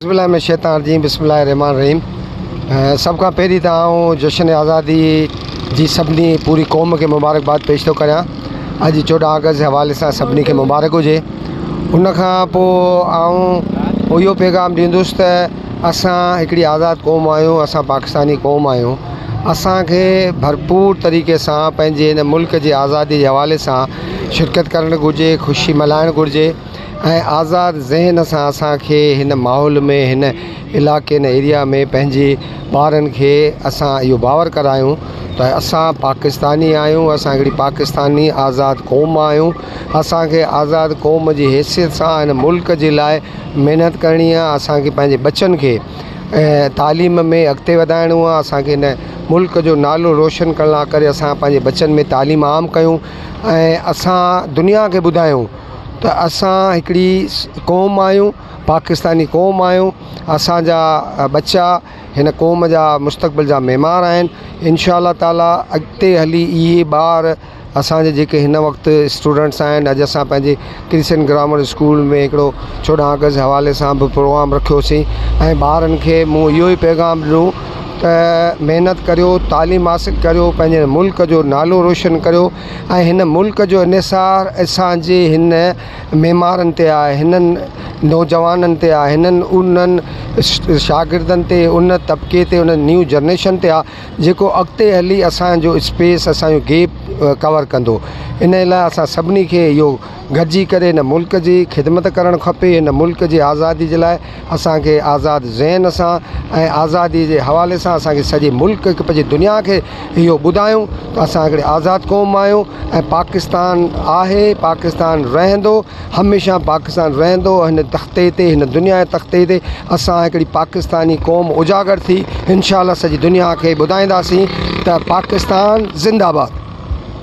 اعوذ باللہ من الشيطان الرجيم بسم الله الرحمٰن الرحيم سڀ کان پهرين ته آئون جشن آزادي جي سڀني پوري قوم کي مبارڪباد پيش ٿو ڪريان اڄ چوڏهن آگسٽ جي حوالي سان سڀني کي مبارڪ هجي ان کان پوء آئون اهو پيغام ڏيندس ته اسان هڪڙي آزاد قوم آهيون اسان پاڪستاني قوم آهيون اسانکي ڀرپور طريقي سان پنهنجي هن ملڪ جي آزادي جي حوالي سان شرڪت ڪرڻ گهرجي خوشي ملهائڻ گهرجي ۽ آزاد ذهن سان اسان کي هن ماحول ۾ هن علائقي هن ايريا ۾ پنهنجي ٻارن کي اسان اهو باور ڪرايون ته اسان پاڪستاني آهيون اسان هڪڙي پاڪستاني آزاد قوم آهيون اسان کي آزاد قوم جي حيثيت سان هن ملڪ جي لاء محنت ڪرڻي آهي اسان کي پنهنجي ٻچن کي تعليم ۾ اڳتي وڌائڻو آهي اسان کي هن ملڪ جو نالو روشن ڪرڻ لاء ڪري اسان پنهنجي ٻچن ۾ تعليم عام ڪيون ۽ اسان دنيا کي ٻڌايون ته اسان هڪڙي قوم آهيون پاڪستاني قوم آهيون اسانجا ٻچا هن قوم جا مستقبل جا معمار آهن انشاء الله تعاليٰ اڳتي هلي اهي ٻار اسانجا جيڪي هن وقت اسٽوڊنٽس آهن اڄ اسان پنهنجي ڪرسچن گرامر اسڪول ۾ هڪڙو چوڏهن آگسٽ حوالي سان به پروگرام رکيوسين ۽ ٻارن کي مون اهو ئي پيغام ڏنو ته محنت ڪريو تعليم حاصل ڪريو پنهنجي ملڪ جو نالو روشن ڪريو ۽ هن ملڪ جو انحصار اسان جي هن معمارن تي آهي، هنن نوجوانن تي آهي، هنن انهن شاگردن تي، ان طبقي تي، ان نيو جنريشن تي آهي جيڪو اڳتي هلي اسان جو اسپيس، اسان جو گيپ ڪور ڪندو. انهيء لاء اسان سڀني کي اهو گڏجي ڪري هن ملڪ جي خدمت ڪرڻ کپي، هن ملڪ جي آزادي جي لاء اسان کي آزاد ذهن سان ۽ آزادي جي حوالي سان اسان کي سڄي ملڪ کي پڄي دنيا کي اهو ٻڌايون ته اسان هڪڙي آزاد قوم آهيون ۽ پاڪستان آهي پاڪستان رهندو هميشه پاڪستان رهندو هن تختي تي هن دنيا جي تختي تي اسان هڪڙي پاڪستاني قوم اجاگر ٿي انشاء الله سڄي دنيا کي ٻڌائينداسين ته پاڪستان زنده باد.